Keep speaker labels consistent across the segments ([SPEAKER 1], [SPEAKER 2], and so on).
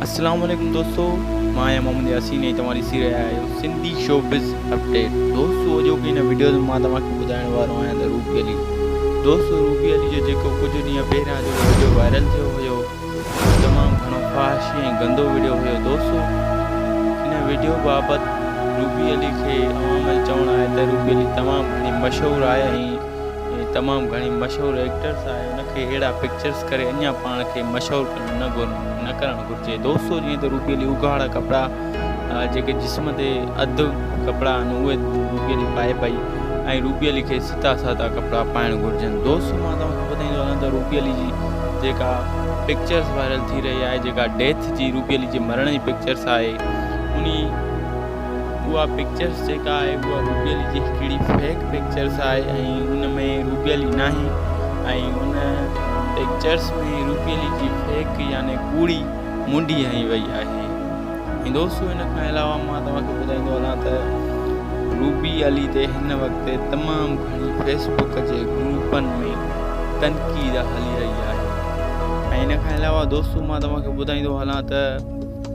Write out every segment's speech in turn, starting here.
[SPEAKER 1] اسلام عليڪم دوستو مان آهيان محمد ياسين ۽ توهان ڏسي رهيا آهيو سنڌي شو بز اپڊيٽ دوستو اڄوڪي هن وڊيو ۾ مان توهان کي ٻڌائڻ وارو آهيان ته روبي علي دوستو روبي علي جو جيڪو ڪجهه ڏينهن پهريان جو وڊيو وائرل ٿيو هيو تمام گهڻو فحاشي ۽ گندو وڊيو هيو دوستو هن وڊيو بابت روبي علي کي عوام جو چوڻ آهي ته روبي علي تمام گهڻي مشهور آهي ۽ هي تمام گهڻي مشهور ايڪٽرس آهي هن کي ههڙا پڪچرس ڪري اڃان پاڻ کي مشهور نه ڪرڻ گهرجي دوستو جيئن ته روبي علي اگهاڙا ڪپڙا جيڪي جسم تي اڌ ڪپڙا آهن اهي روبي علي پائي پئي ۽ روبي علي کي ستا سادا ڪپڙا پائڻ گهرجن دوست مان توهان کي ٻڌائيندو هلان ته روبي علي جي جيڪا پڪچرس وائرل ٿي رهي آهي جيڪا ڊيٿ جي روبي علي جي مرڻ جي پڪچرس آهي انهي اها پڪچرس جيڪا آهي اها روبيلي جي هڪڙي فيڪ پڪچرس آهي ۽ ان ۾ روبيلي ناهي ۽ ان پڪچرس ۾ روبيلي جي فيڪ يعني ڪوڙي منڊي هنئي وئي آهي ۽ دوستو ان کان علاوه مان توهان کي ٻڌائيندو هلان ته روبي علي تي هن وقت تمام گهڻي فيسبوڪ جي گروپن ۾ تنقيد هلي رهي آهي ۽ ان کان علاوه دوستو مان توهان کي ٻڌائيندو هلان ته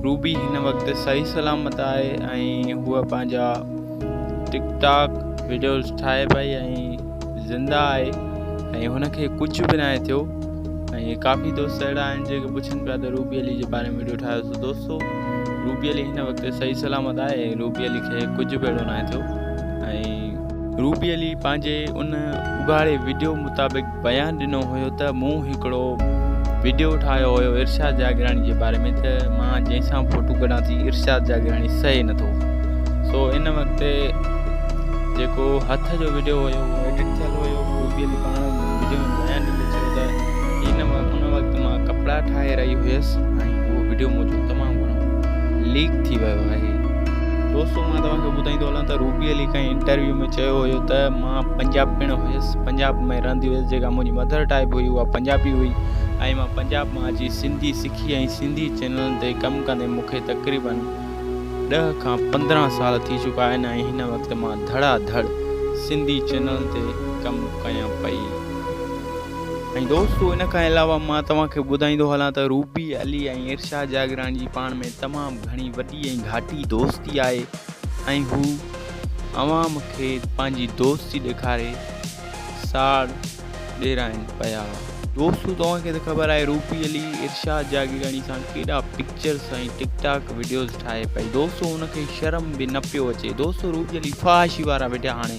[SPEAKER 1] روبي هن وقت صحيح سلامت آهي ۽ هوء پنهنجا ٽڪ ٽاڪ وڊيوز ٺاهي پئي ۽ زنده آهي ۽ هن کي ڪجهه به ناهي ٿيو ۽ ڪافي دوست اهڙا آهن جيڪي پڇن پيا ته روبي علي جي باري ۾ وڊيو ٺاهيو سو دوستو روبي علي هن وقت صحيح سلامت آهي ۽ روبي علي کي ڪجهه به اهڙو ناهي ٿيو ۽ روبي علي پنهنجي ان اگهاڙي وڊيو مطابق بيان ڏنو هيو ته مون هڪڙو وڊيو ٺاهيو هيو ارشاد جاگيراڻي جي باري ۾ ته مان جنهن سان فوٽو ڪڍان ٿي ارشاد جاگيراڻي سهي نه ٿو سو ان وقت جيڪو هٿ جو وڊيو هيو ايڊٽ ٿيل هيو بيل پاڻ وڊيو ۾ بيان ڏيندي چيو ته ان ان وقت مان ڪپڙا ٺاهي رهي هيس ۽ اهو وڊيو منهنجو تمام گهڻو ليڪ ٿي ويو آهي دوستو مان توهان کي ٻڌائيندو هلان ته روبي علي کي انٽرويو ۾ چيو هيو ته مان پنجاب پڻ هيس پنجاب ۾ رهندي هئس جيڪا منهنجي مڌر ٽائيب هئي اها پنجابي هئي ۽ مان پنجاب مان اچي سنڌي سکي ۽ سنڌي چينلن تي ڪم ڪندي مون کي تقريبن ڏهه کان پندرهن سال ٿي چڪا آهن ۽ هن وقت مان ڌڙا ڌڙ سنڌي چينلن تي ڪم ڪيان پئي ۽ دوستو ان کان علاوه مان توهان کي ٻڌائيندو هلان ته روبي علي ۽ ارشاد جاگراڻي جي پاڻ ۾ تمام گهڻي وڏي ۽ گهاٽي دوستي آهي ۽ هو اوهان مون کي پنهنجي دوستي ڏيکاري ساڙ ڏيرائين پيا. دوستو توهان کي ته خبر آهي روبي علي ارشاد جاگيراڻي سان ڪيڏا پڪچرز ۽ ٽڪ ٽاڪ وڊيوز ٺاهي پئي دوستو ان کي شرم به نه پيو اچي دوستو روبي علي فحاشي وارا وڊيا هاڻي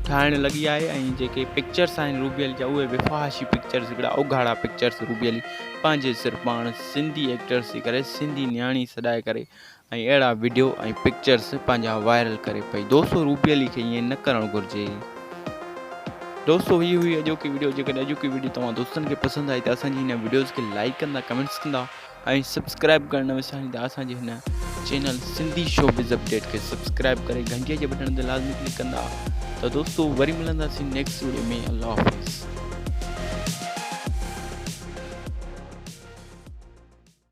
[SPEAKER 1] ٺاهڻ لڳي آهي ۽ جيڪي پڪچرز آهن روبي علي جا اهي به فحاشي پڪچرز هڪڙا اگهاڙا پڪچرز روبي علي پنهنجي صرف پاڻ سنڌي ايڪٽرز ٿي ڪري سنڌي نياڻي سڏائي ڪري ۽ اهڙا وڊيو ۽ پڪچرز پنهنجا وائرل ڪري پئي دوستو روبي علي کي ائين نه ڪرڻ گهرجي دوستو هي هئي اڄوڪي وڊيو جيڪڏهن اڄوڪي وڊيو توهان دوستن کي پسند آئي ته اسان جي هن وڊيوز کي لائڪ ڪندا ڪمينٽس ڪندا ۽ سبسڪرائب ڪرڻ نه وساريندا اسان جي هن چينل سنڌي شوبز اپڊيٽ کي سبسڪرائب ڪري گهنٽي جي بٽڻ تي لازمي ڪلڪ ڪندا ته دوستو وري ملنداسين نيڪسٽ وڊيو ۾ الله حافظ